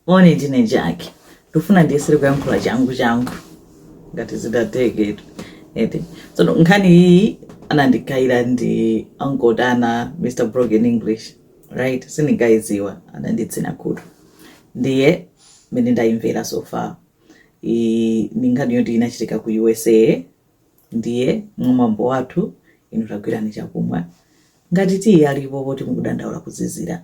moni ndine Jackie ndifuna ndiyesere kuyankhula changu changu ngati zingatheke eti tsono nkhani iyi anandiikira ndi Uncle Dana mr broken english right sindinkayidziwa ananditsina khutu ndiye mmene ndayimvera so far iyi ndi nkhani yoti inachitika ku usa ndiye mwamwambo wathu inu tagwirani chakumwa ngati tiyi alipo poti mukudandaula kuzizira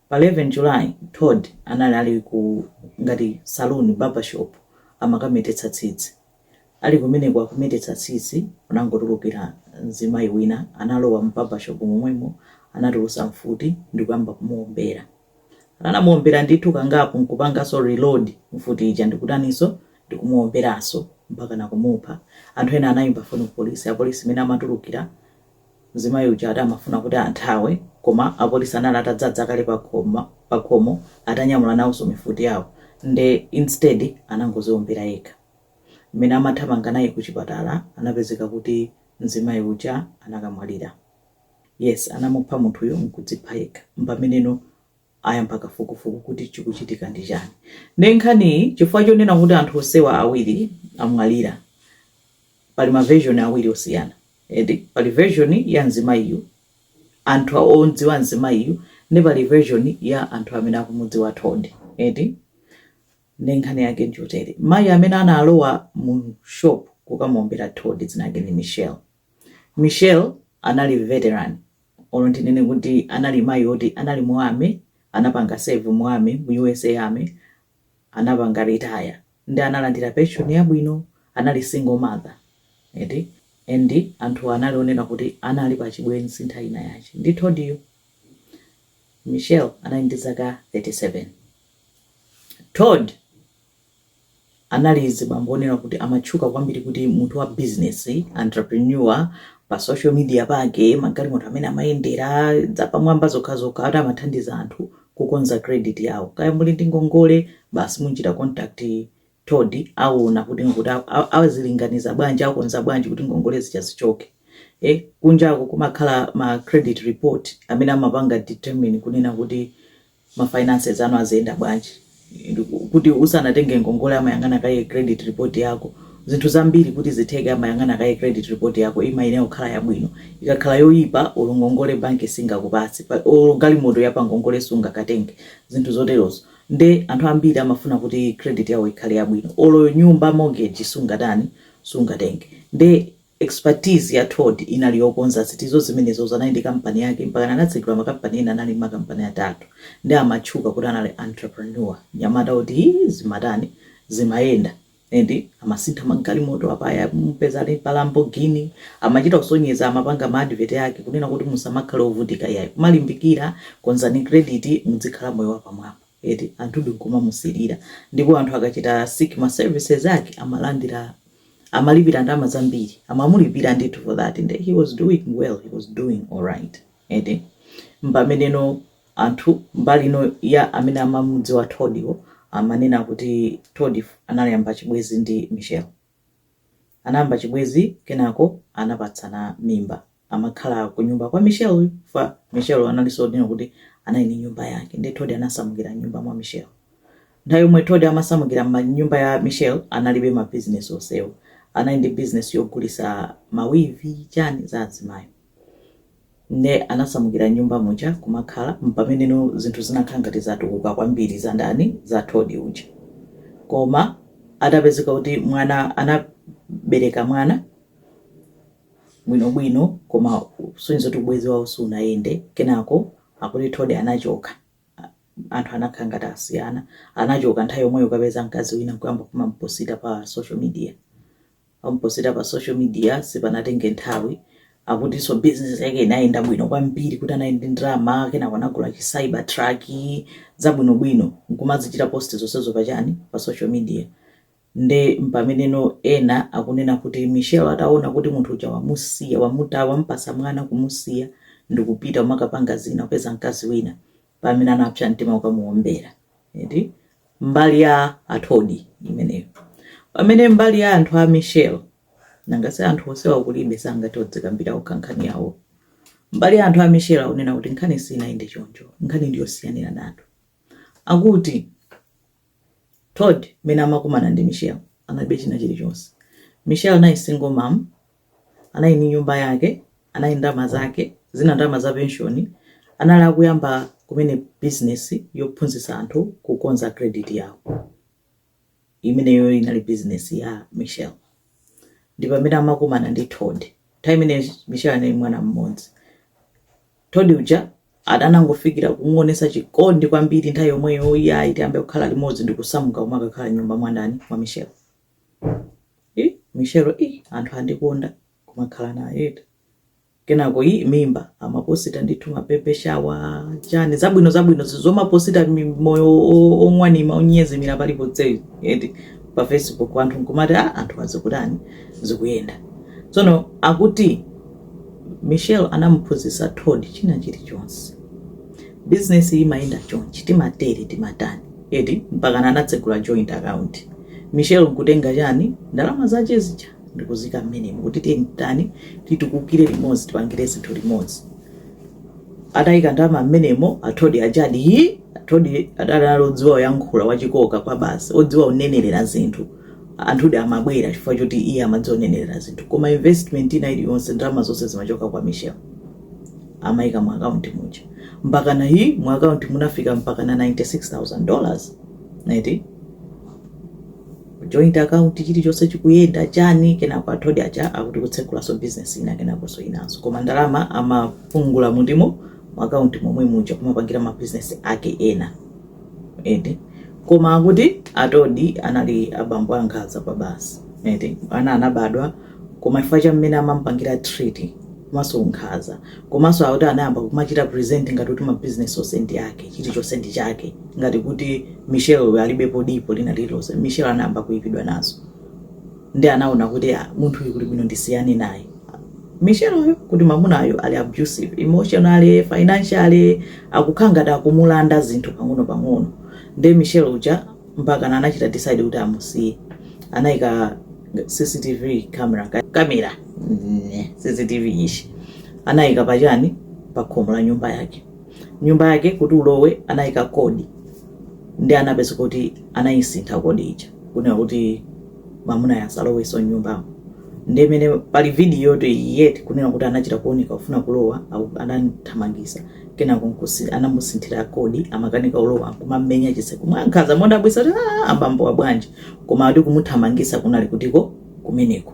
Pa 11 July, Todd anali ali ku ngati saloon, barber shop, amakametetsa tsitsi. Ali kumeneko akumetetsa tsitsi, kunangotulukira mzimayi wina, analowa mu barber shop momwemo, anatulutsa mfuti ndikuyamba kumuwombera. Anamuwombera ndithu kangapo nkupanganso reload mfuti ija ndikutaninso, ndikumuwomberanso mpakana kumupha. Anthu ena anayimba foni ku polisi, apolisi mene amatulukira Mzimayi uja amafuna kuti anthawe koma apolisi anali atadzadza kale pakhomo atanyamula nawonso mifuti yawo nde instead anangodziombera yekha. Mmene amathamanga naye ku chipatala anapezeka kuti mzimayi uja anakamwalira. Yes anamupha munthuyu nkudzipha yekha mpameneno ayamba kafukufuku kuti chikuchitika ndi chani nde nkhaniyi chifukwa chonena kuti anthu onsewa awiri amwalira pali ma version awiri osiyana eti pali version ya mzimayiyu anthu odziwa mzimayiyu nde pali version ya anthu amene akumudziwa Todd eti nde nkhani yake njotere mayi amene analowa mu shop kukamuombera Todd dzina lake ndi Michelle Michelle anali veteran olo ndinene kuti anali mayi oti anali mu army anapanga serve mu army mu usa army anapanga retire nde analandira pension yabwino anali single mother eti and anthuwa anali onena kuti anali pa chibwenzi nthawi ina yake ndi Toddiyo. Michelle anali ndi zaka 37. Todd. anali azibambo onena kuti amatchuka kwambiri kuti munthu wa business, entrepreneur, pa social media pake, magalimoto amene amayendera, zapamwamba zokhazokha, ati amathandiza anthu kukonza credit yawo. Kaya muli ndi ngongole, basi munchita contact Todd, awona kuti azilinganiza bwanji, akonza bwanji kuti ngongole zija zichoke. Eh, kunjako kumakhala ma credit report amene amapanga determine kunena kuti ma finances anu aziyenda bwanji, kuti usanatenge ngongole amayang'ana kaye credit report yako, zinthu zambiri kuti zitheke amayang'ana kaye credit report yako imayenera kukhala yabwino, ikakhala yoyipa olo ngongole bank singakupatse, olo galimoto ya pa ngongole sungakatenge, zinthu zoterozo, nde anthu ambiri amafuna kuti credit yawo ikhale yabwino, olo nyumba mortgage sungatani, sungatenge, nde. Expertise ya Todd inali yokonza zinthuzo zimenezo anali ndi kampani yake mpakana anatsegula makampani ena anali makampani atatu nde amatchuka kuti anali entrepreneur mnyamata oti ii zimatani zimayenda and amasintha magalimoto apa aya umupeza ali pa Lamborghini amachita kusonyeza amapanga ma advert ake kunena kuti musamakhale ovutika iyayi kumalimbikira konzani credit mudzikhala moyo wapamwamba eti anthudi nkumamusilira ndipo anthu akachita seek ma services ake amalandira amalipira ndalama zambiri amamulipira ndithu for that nde he was doing well he was doing alright eti mpameneno anthu mbali ino ya amene amamudziwa Toddyo amanena kuti Todd anayamba chibwezi ndi Michelle anayamba chibwezi kenako anapatsana mimba amakhala kunyumba kwa Michelle uyu chifukwa Michelle analinso ndinene kuti anali ndi nyumba yake ndi Todd anasamukira nyumba mwa Michelle nthawi yomwe Todd amasamukira mnyumba ya Michelle analibe ma business onsewo anali ndi business yogulisa mawivi chani za azimayo nde anasamukira nyumba muja kumakhala mpameneno zinthu zinakhala ngati zatukuka kwambiri za ndani za Todd uja koma atapezeka kuti mwana anabereka mwana bwinobwino koma zikusonyeza kuti ubwezi wawo sunayende kenako akuti Todd anachoka anthu anakhala ngati asiyana anachoka nthawi yomweyo kukapeza mkazi wina nkuyamba kumamuposita pa social media amuposita pa social media sipanatenge nthawi akutinso business yake inayenda bwino kwambiri kuti anali ndi ndalama kenako anagula chi cyber truck zabwinobwino nkumazichita post zonsezo pachani pa social media Nde mpameneno ena akunena kuti Michelle ataona kuti munthu uja wamusiya, wamupatsa mwana kumusiya ndikupita kumakapanga zina, kupeza mkazi wina, mpamene anapsa mtima kukamuombera. Eti? Mbali ya a Todd imeneyo. Pamene mbali ya anthu a Michelle, nanga si anthu onsewa kulibe sangathe kudzikambira okha nkhani yawo. Mbali ya anthu a Michelle akunena kuti nkhani sinayende choncho, nkhani ndiyosiyaniranatu. Akuti. Todd mmene amakumana ndi Michelle analibe china chilichonse. Michelle anali single mom, anali ndi nyumba yake, anali ndi ndalama zake, zina ndalama za pension, anali akuyamba kumene business yophunzitsa anthu kukonza credit yawo. Imeneyoyo inali business ya Michelle. Ndi pamene amakumana ndi Todd. Nthawi imeneyo Michelle anali ndi mwana mmodzi. Tod uja atangofikira kumuonesa chikondi kwambiri nthawi yomweyo iyayi tiyambe kukhala limodzi ndikusamuka kumakakhala m'nyumba mwandani mwa Michelle i Michelle i anthu andikonda kumakhala naye eti kenako i mimba amaposita ndithu ma baby shower chani zabwino zabwino zizomaposita mi- moyo o- o- ong'wanima onyezimira paliponse eti pa facebook anthu nkumati a anthu azikutani zikuyenda tsono akuti Michelle anamuphunzitsa Todd china chilichonse. Bizinesiyi imayenda chonchi, timatere, timatani, eti mpakana anatsegula joint account. Michelle nkutenga chani, ndalama zake zija ndikuziika mmenemo kuti tiyeni titani, titukukire limodzi, tipangire zinthu limodzi. Atayika ndalama mmenemo, a Todd aja di, hii! Todd adali odziwa kuyankhula, wachikoka kwabasi, odziwa kunenerera zinthu. Anthudi amabwera chifukwa choti iye amadziwa kunenerera zinthu koma investment ina iliyonse ndalama zonse zimachoka kwa Michelle amaika mu account muja mpakana hi mu account munafika mpakana 96000 dollars eti joint account chilichonse chikuyenda chani kenako a Todd aja akuti kutsegulaso business ina kenakoso inaso koma ndalama amapungula mundi mu mu account momwe muja kumapangira ma business ake ena eti koma akuti a Todd anali abambo ankhaza kwabasi eti ana anabadwa koma chifukwa cha mmene amampangira treat komanso unkhaza komanso akuti anayamba kumachita present ngati kuti mabizinesi onse ndi yake chilichonse ndi chake ngati kuti michelle uyu alibepo dipo lina lililonse michelle anayamba kuipidwa nazo nde anaona kuti ah munthu uyu kuli bwino ndisiyane naye Michelle uyu kuti mamunayo ali abusive emotionally, financially akukhala ngati akumulanda zinthu pang'ono pang'ono nde Michelle uja mpakana anachita decide kuti amusiye anaika CCTV camera kamera CCTV ishi anaika pachani pakhomo pa nyumba yake nyumba yake kuti ulowe anaika kodi nde anapeza kuti anayisintha kodi ija kunena kuti mamunayo asaloweso mnyumbamo ndiye mene pali vidiyotu eti kunena kuti anachita kuoneka kufuna kulowa aku- atamthamangisa kenako nkusi- anamusinthira kodi amakanika kulowa nkumamenya chiseko mwankhaza modabwisa kuti "Ah, abambowa bwanji koma ati kumuthamangisa kunali kutiko kumeneko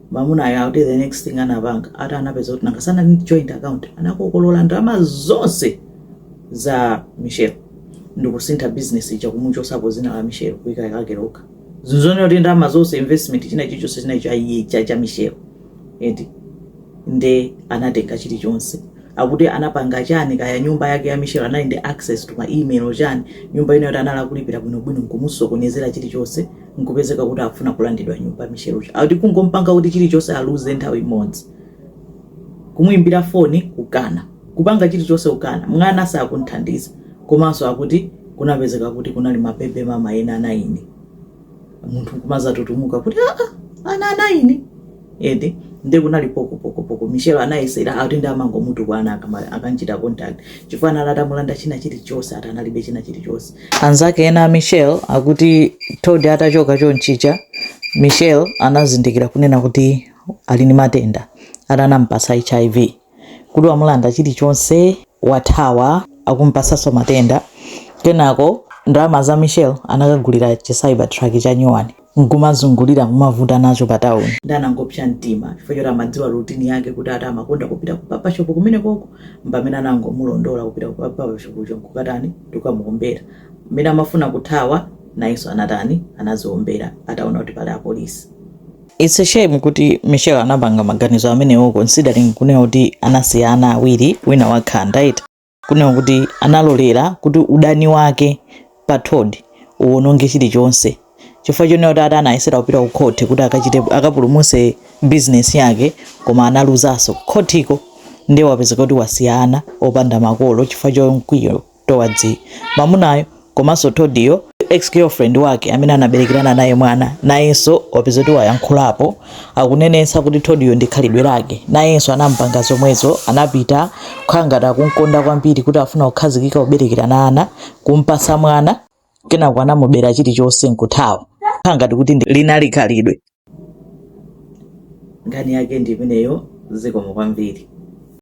Mamunayo akuti the next thing anapanga ati anapeza kuti nanga si anali ndi joint account anakakolola ndalama zonse za Michelle ndikusintha business ija kumuchosapo zina la Michelle kuika lake lokha zisaoneke kuti ndalama zonse investment china chilichonse chinali cha iye cha cha Michelle eti nde anatenga chilichonse akuti anapanga chani kaya nyumba yake ya Michelle anali ndi access to ma email chani nyumba inayo yoti anali akulipira bwinobwino nkumusokonezera chilichonse nkupezeka kuti akufuna kulandidwa nyumba Michelleyo akuti kungompanga kuti chilichonse aluze nthawi imodzi kumuimbira foni kukana kupanga chilichonse kukana mwana sakunthandiza komanso akuti kunapezeka kuti kunali mabebe mama ena anayi munthu kumazatutumuka kuti aa ana anayi eti nde kunali poko poko poko michelle anayesera akuti ndiye amangomutukwana akama- akanchita contact chifukwa anali atamulanda china chilichonse akuti analibe china chilichonse anzake ena a michelle akuti todi atachoka chonchija michelle anazindikira kunena kuti ali ndi matenda akuti anampatsa hiv kuti wamulanda chilichonse wathawa akumupatsanso matenda kenako ndalama za michelle anakagulira chi cyber truck cha nyuwani nkumazungulira kumavuta nacho pa tawuni nde anangopsa mtima chifukwa choti amadziwa routine yake kuti ati amakonda kupita ku barber shop kumene koko mpamene anangomulondola kupita ku barber shopko nkukatani ndikukamuombera mmene amafuna kuthawa nayenso anatani anadziombera ataona kuti pali apolisi It's a shame kuti Michelle anapanga maganizo amenewo considering kunena kuti anasiya ana awiri wina wakhanda eti kunena kuti analolera kuti udani wake pa Todd uwononge chilichonse chifukwa chonena kuti ati anayesera kupita ku court kuti akachite akapulumuse business yake koma analuzaso khotiko ndiye wapezeka kuti wasiya ana opanda makolo chifukwa cha mkwiyo towards mamunayo komanso Todiyo ex girlfriend wake amene anabelekerana naye mwana nayenso wapeza kuti wayankhulapo akunenetsa kuti Todiyo ndi khalidwe lake nayenso anampanga zomwezo anapita kukhala ngati akumkonda kwambiri kuti afuna kukhazikika kuberekerana ana kumpasa mwana kenako anamubera chilichonse nkuthawa kukhala ngati kuti ndi- linali khalidwe nkhani yake ndi imeneyo zikomo kwambiri